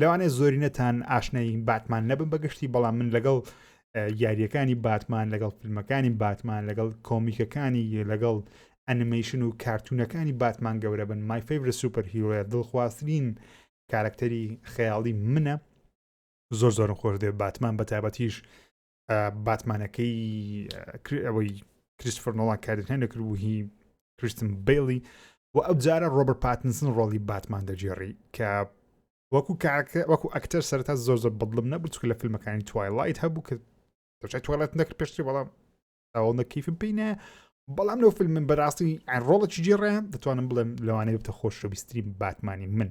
لەوانەیە زۆرینەتان ئاشنای باتمان نەبم بەگشتی بەڵام من لەگەڵ یاریەکانی باتمان لەگەڵ فیلمەکانی باتمان لەگەڵ کۆمیکەکانی لەگەڵ ئەنیمیشن و کارتونەکانی باتمان گەورە بن مای فیڤرە سوپەر هیرۆە دڵخوازترین کارکتەری خەیاڵی منە زۆر زۆرم خۆش دێ باتمان بە تابەتیش باتمانەکەی ئەوەی کریسفرنەوەڵان کاردنیان دەکرد و هی کریستم بیلی و ئەو جارە ڕۆبەر پاتنسن ڕۆڵی باتمان دەجێڕی کە وەکو کاکە وەکو ئەکتەر سەرتا زۆر زۆر بەڵم نەبوو چکە لە فیلمەکانی توایلایت هەبوو کە دەچای توالەت نەکرد پێشتری بەڵام ئەوڵ نەکیفم پێینە بەڵام لەو فیلم من بەڕاستی ڕۆڵەکی جێڕێن دەتوانم بڵێم لەوانەیە بتە خۆشەویستری باتمانی من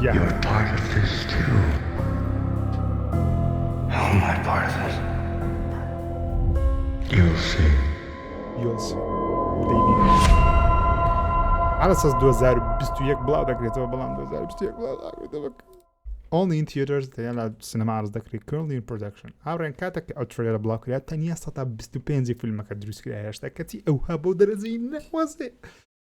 Your target is two How am I part of this? You'll see You'll see Baby عرسس 2021 بڵاو دەکرێتەوە بەڵام 2021 بڵاو دەکرێتەوە ئۆنلی ئین تیتەرز دەیان لە سینەما ئارز دەکری کردین پرۆدەکشن هاڕێن کاتێک ئەو ترێرە بڵاو کرات تەنیا 125 فیلمەکە دروستکرا هێشتا کەچی ئەوها بۆ دەرەجەی نەخوازێ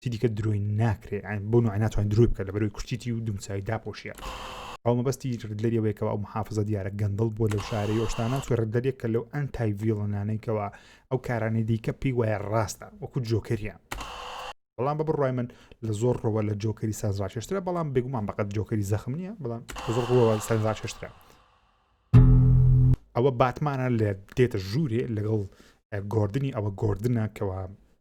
تی دیکە درۆی ناکرێ بۆ نوع ناتوان درۆی بکە لە بەرەوەی کوشتیتی و دمساوی داپۆشیە ئەو مەبەستی لەریەوەیەکەوە ئەو محافظە دیارە گەندڵ بۆ لەو شارەی ئۆشتانە سوێرە دەرێک کە لەو ئەن تای ڤیڵنانێکەوە ئەو کارانەی دیکە پێی وایە ڕاستە وەکو جۆکەریان بەڵام بە بڕای من لە زۆر ڕەوە لە جۆکەری سازڕاکێشترە بەڵام بێگومان بەقەت جۆکەری زەخم نییە بەڵام زۆر ڕوەوە سەرزاکێشترە ئەوە باتمانە لە دێتە ژوورێ لەگەڵ گردردنی ئەوە گردنە کەەوە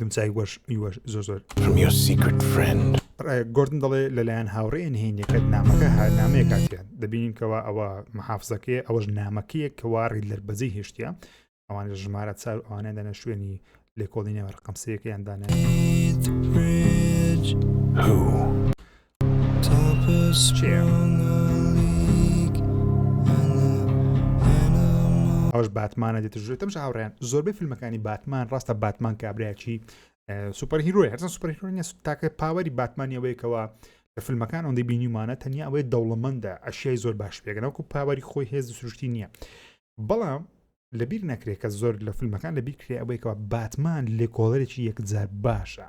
گمچای وەش یوەش زۆر زۆر گردن دەڵێ لەلایەن هاوڕێ نهێنیەکەت نامەکە هەر نامەیە کاتیان دەبینین کەەوە ئەوە محافزەکەی ئەوەش نامەکەیە کەواری لەربەزی هێشتە ئەوان لە ژمارە چار ئەوانە دەنە شوێنی لێکۆڵینەوە ڕقم سەکەیان دانێت ئەوەش باتمانە دێتە ژێ تەمش هاوڕێن زۆربەی فیلمەکانی باتمان ڕاستە باتمان کابراایکی سوپەر هیرۆی هەرسە سوپەر هیرۆنیە تاکە پاوەری باتمانیەوەیەکەوە لە فیلمەکان ئەوەندەی بینیمانە تەنیا ئەوەی دەوڵەمەندە ئەشیای زۆر باش پێگەنەوەکو پاوەری خۆی هێز سروشتی نییە بەڵام لەبیر نەکرێت کە زۆر لە فیلمەکان لەبیرکرێ ئەوەیەوە باتمان لێکۆڵەرێکی یەکجار باشە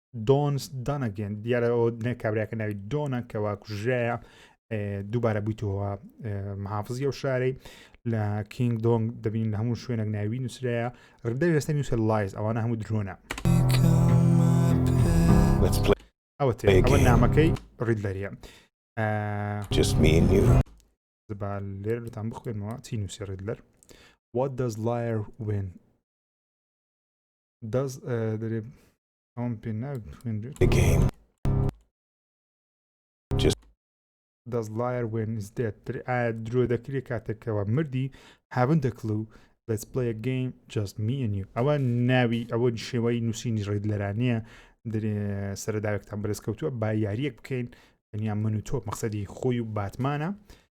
دۆنس دانەگەن دیارە ئەو نێ کابراکە ناوی دۆنە کەوا کوژرایە دووبارە بوویتەوە محافزی ئەو شارەی لە کینگ دۆنگ دەبین لە هەموو شوێنێک ناوی نووسراە ڕدە وێستە نووسە لایز ئەوانە هەموو درۆنە ئەوە ئەوە نامەکەی ڕید لەریە زبال لێر لەتان بخوێنەوە چی نووسی ڕید لەر What does liar win دەست دەێ ئەوم پێ ناخێنێت دەست لایر وێنز دێت ئایا درۆ دەکرێت کاتێکەوە مردی هابن دەکڵە و let's play a game just me and you ئەوە ناوی ئەوە شێوەی نووسینی ڕێد لەرانەیە سەرداوێکتان بەرز کەوتووە با یاریەک بکەین تەنیا من و تۆ مەقصدی خۆی و باتمانە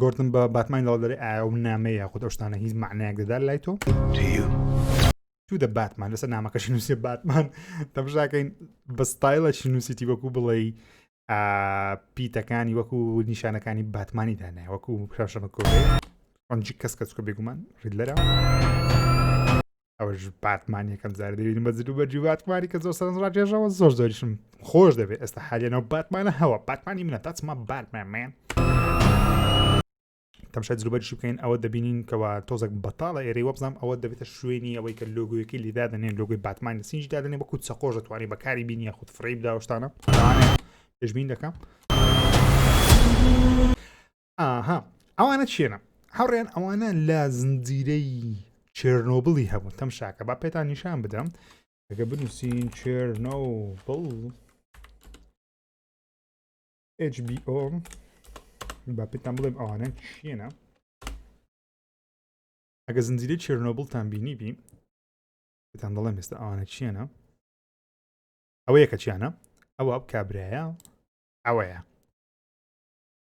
گردن بە باتمان لەڵ دەێ ئایا و نامەیە خود ئەوشتانە هیچ معنایەک دەدار لای تۆ تو دە باتمان لەسەر نامەکەشی نووسێ باتمان دەبژاکەین بە ستایلە چی نووسیتی وەکو بڵێ پیتەکانی وەکو نیشانەکانی باتمانی دانێ وەکو پراشەمە کۆ ئەنج کەس کەسکە بێگومان ڕیدلەرە ئەوەش باتمان یەکەم زار دەبین بە زیدو بەرجی باتمانی کە زۆر سەرنج ڕاجێژەوە زۆر زۆریشم خۆش دەبێت ئێستا حالێنەوە باتمانە هەوە باتمانی منە تاچمە باتمەمێن تەمشای زروبەرشی بکەین ئەوە دەبینین کەوا تۆزەک بەتاڵە ئێرەی وەبزانام ئەوە دەبێتە شوێنی ئەوەی کە لۆگویەکەی لیدا دەنێن لۆگوی باتمان لە سینج دادنێ بەکو چەقۆش دەتوانانی بەکاری بینیە خود فڕی بداوشتانە پێشبین دەکەم ئاها ئەوانە چێنە هەڕێن ئەوانە لە زنجیرەی چێرنۆبلی هەبوون تەم شاکە با پێتان نیشان بدەم ئەگە بنووسین چێرنۆبل HBO با پێتان بڵێم ئەوانە چێنە ئەگە زنجیرەی چێرنۆبلتان بینی بین پێتان دەڵێم ئێستا ئەوانە چێنە ئەوەیە کە چیانە ئەوە کابراە ئەوەیە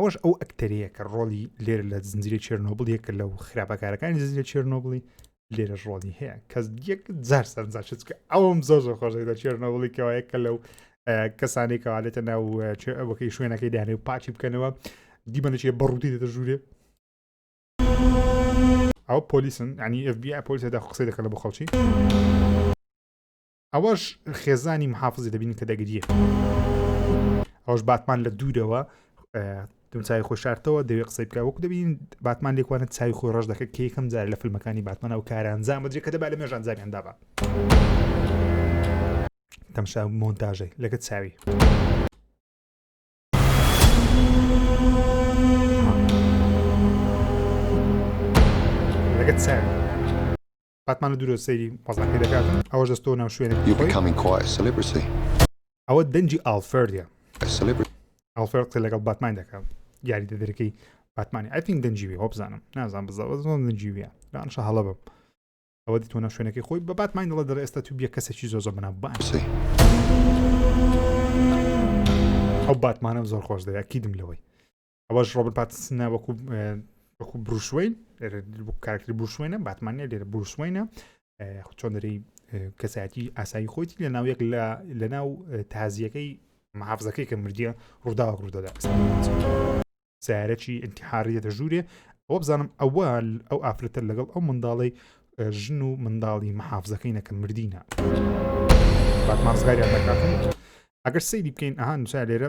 ئەوەش ئەو ئەکتەرەیە کە ڕۆڵی لێر لە زنجیرە چێرنۆبل یەکە لەو خراپەکارەکانی زنجیرە چێرنۆبلی لێرەش ڕۆڵی هەیە کە یەک زار سەرزاچێت کە ئەوم زۆر زۆر خۆشێک لە چێرنۆبلی کەوایە کە لەو کەسانی کەوالێتە ناو ئەوەکەی شوێنەکەی دانێ و پاچی بکەنەوە دیمەنەچێ بەڕووتی دەدە ژوورێ ئەو پۆلیسن ینی FBI پۆلیسەدا قسەی دەکەن بۆ خەڵکی ئەوەش خێزانی محافزی دەبین کە دەگریە ئەوش باتمان لە دوورەوە دمچای خۆ شارتەوە دەوێت قسەی بکە وەکو دەبین باتمان لێکوانە چای خۆی ڕژ دەکە کە یەکەم جار لە فیلمەکانی باتمانە و کاران زامەجێ کە دەبا لە مێژان زامیاندا بە تەمشا مۆنتاژەی لەگە چاوی. لەگە چاوی باتمان لە دوورە سەیری قەزاکەی دەکات ئەوە دەستۆ ناو شوێنێک ئەوە دەنجی ئالفردە ئەڵفرد قسە لەگەڵ باتمان دەکەم یاری دەدرەکەی باتمانی ئەتین دەنجوی هۆ بزانم نازان بزەوە زۆن دەنجویە لەانشە هەڵە بم ئەوە دی تۆنە شوێنەکەی خۆی بە باتمان دڵە دەڵ ئێستا تو بیە کەسێکی زۆ زۆ بنا باسی ئەو باتمانە زۆر خۆش دەیە کیدم لەوەی ئەوەش ڕۆبن پاتسنە وەکو وەکو بروشوین کارکتری بروشوێنە باتمانە لێرە بروشوێنە چۆن دەری کەسایەتی ئاسایی خۆیتی لە ناو یەک لە لە ناو تازیەکەی محافزەکەی کە مردیە ڕووداوە ڕوودەدا سارەکی انتحاری دێتە ژوورێ ئەوە بزانم ئەوە ئەو ئافرەتە لەگەڵ ئەو منداڵی ژن و منداڵی محافزەکەی نەکە مردینە باتمانزگاریان دەکاتن ئەگەر سەیری بکەین ئەهان نووسا لێرە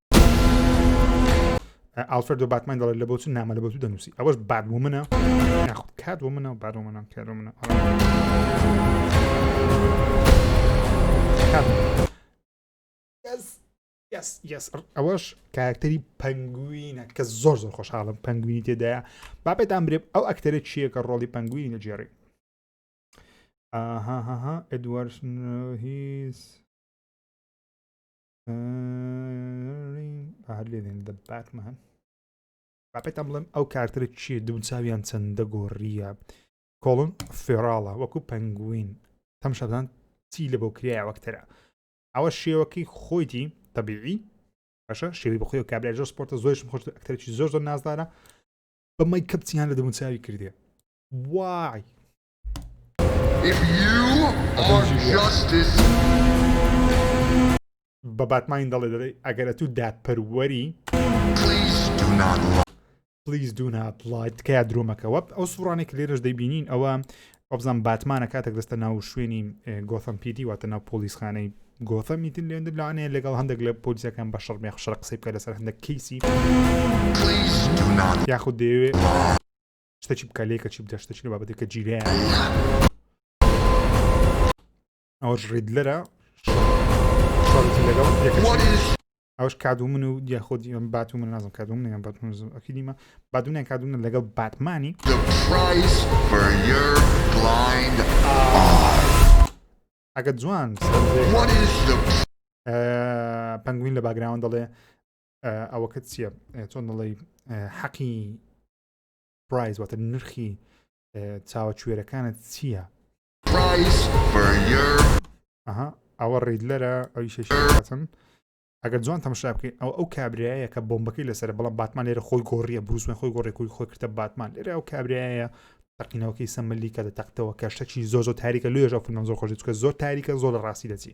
ئالفەر دو باتمان دەڵێت لە بۆچ نامە لە بۆ دەنووسی ئەوەش باد بۆ منە ناخود کات بۆ منە باد بۆ منە کار منە ئەوەش کارکتەری پەنگوینە کە زۆر زۆر خۆشحاڵم پەنگوینی تێدایە باپێتان برێ ئەو ئەکتەرە چییە کە ڕۆڵی پەنگوینی نەجێڕی ئاهاها ئەدوارد هیز هەر لێدێن دە باتمان باپێتان بڵێم ئەو کارترە چیە دوو چاویان چەندە گۆڕیە کۆڵن فێراڵە وەکو پەنگوین تەم شەدان چی لە بۆ کرایە وەکتەرە ئەوە شێوەکەی خۆیتی تەبیعی باشە شێوی بەخۆی و کابرای زۆر سپۆرتە زۆرشم خۆش ئەکتەرێکی زۆر زۆر نازدارە بەمەی کەپچیان لە دەموچاوی کردێ وای بە باتماین دەڵێ دەڵێ ئەگەرە تو دادپەروەری پلیز دو نات لایت تکایە درۆمەکەوە ئەو سوڕانێک لێرەش دەیبینین ئەوە ئۆبزان باتمانە کاتێک دەستە ناو شوێنی گۆثم پیدی واتە ناو پۆلیسخانەی گۆثە میتن لێن لانەیە لەگەڵ هەندێک لە پۆلیسەکان بە شەڕ مێخشڕ قسەی بکە لەسەر هەندێک کەیسی یاخود دەیەوێت شتەکی بکە لێکە چی بدە شتەکی لە بابەتی کە جیرە ئەوش ڕید لەرە شڵتی لەگەڵ ئەوش کادو من و دیاخۆدی ئەم بات و من نازم کادو من یان باتمەکی دیمە بادونیان کادونە لەگەڵ باتمانی ئەگە جوان پەنگوین لە باگراوان دەڵێ ئەوەکە چییە چۆن دەڵی حەقی پرایز واتە نرخی چاوە کوێرەکانت چییە؟ ئەها ئەوە ڕیدلەرە ئەوی شێشاتن ئەگەر جوان تەمەشا بکەین ئەو ئەو کابراایە کە بۆمبەکەی لەسەر بەڵام باتمان لێرە خۆی گۆڕیە بروسمە خۆی گۆڕێک خۆی خۆی کردە باتمان لێرە ئەو کابراایە تەقینەوەکەی سەمەلی کە دەتەختەوە کە شتەکی زۆ زۆ تاریکە لێژە فیلم زۆر خۆش چکە زۆر تاریکە زۆر لە ڕاستی دەچی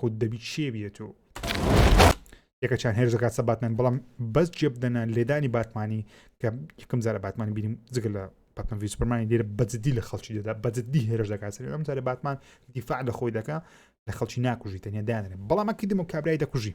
خود دەبیت شێ بێت و یەکەچان هێرش دەکات سە باتمان بەڵام بەس جێ بدەنە لێدانی باتمانی کە یکم زارە باتمانی بینیم جگە لە باتمان ویسپەرمانی لێرە بەجددی لە خەڵکی دەدا بەجددی هێرش دەکات سەر ئەم جارە باتمان دیفاع لە خۆی دەکە لە خەڵکی ناکوژی تەنیا دانێ بەڵام ئەکیدم و کابرای دەکوژی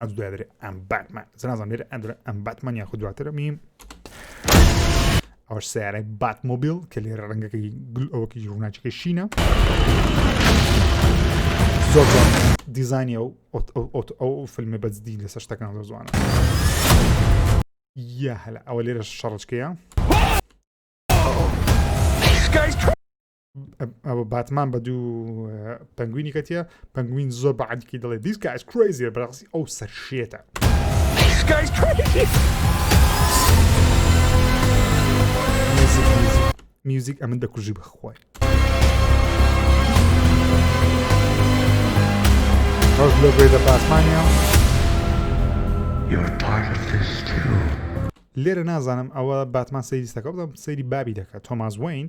ئەم دواتر ئەم باتمان زنازم لێرە ئەدرە ئەم باتمان یاخود دواتر میم ئەوش سیارە بات مۆبیل کە لێرە ڕەنگەکەی گل ئەوەکی ڕووناچەکە شینە زۆر دیزانانی ئەو ئەو فیلمە بەجددی لەسەر شتەکان زۆر زوانە یا هەلا ئەوە لێرە شەڕچکەیە ئەوە باتمان بە دوو پنگوینی کەتیە پنگوین زۆر بەعادکی دەڵێ دیسکە ئەس کرێزیە بەڕاستی ئەو سەر شێتە. میوزیک ئەمن دەکوژی بەخۆی ڕژ لە بێ لە پاسمانیا لێرە نازانم ئەوە باتمان سەیریستەکە بڵم سەیری بابی دەکات تۆماز وین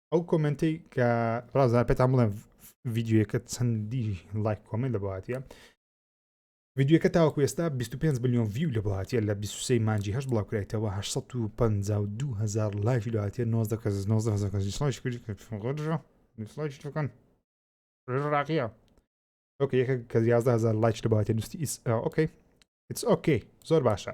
ئەو کۆمنتی کە ڕازار پێتان بڵێن ڤیددیوەکە چەندی لایک کۆمنت لە باتە ڤیددیوەکە تاوەکو ئێستا 25 بلیۆن ویو لە باتە لە 23 مانجی هەش بڵاوکرێتەوە 1950 لایفی لاتە 90 کەس 90 کەس کردکەن ڕاقیە ئۆکە یەکە کە 11هزار لایچ لە باتە نووسی ئیس ئۆکەی ئیس ئۆکەی زۆر باشە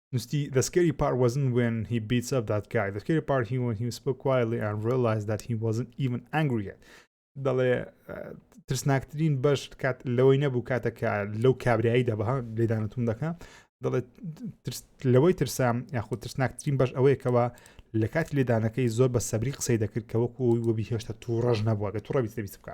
نوستی The scary part wasn't when he beats up that guy The scary part he when he spoke quietly and realized that he wasn't even angry yet دەڵێ ترسناکترین بەش کات لەوەی نەبوو کاتەکە لەو کابرایی دەبە لێدانتون دەکە دەڵێت لەوەی ترسام یاخود ترسناکترین بەش ئەوەیەکەوە لە کات لێدانەکەی زۆر بە سەبری قسەی دەکرد کە وەکو وەبی هێشتا توڕەژ نەبووە بە توڕە بیست بکە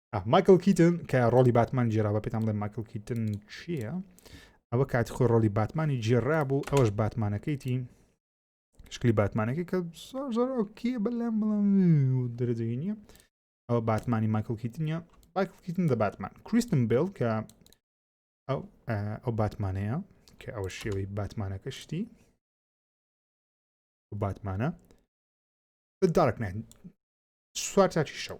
مایکل کیتن کە ڕۆڵی باتمان جێرا بە پێتان بڵێ مایکل کیتن چییە ئەوە کاتی خۆی ڕۆلی باتمانی جێرا بوو ئەوەش باتمانەکەیتی شکلی باتمانەکە کە زۆر زۆر ئۆکی بەلام بڵام دەرەجەی نییە ئەوە باتمانی مایکل کیتنیە مایکل کیتن دە باتمان کریستم بێڵ کە ئەو ئەو باتمانەیە کە ئەوە شێوەی باتمانەکە شتی باتمانە دارک نێن سوار تاچی شەو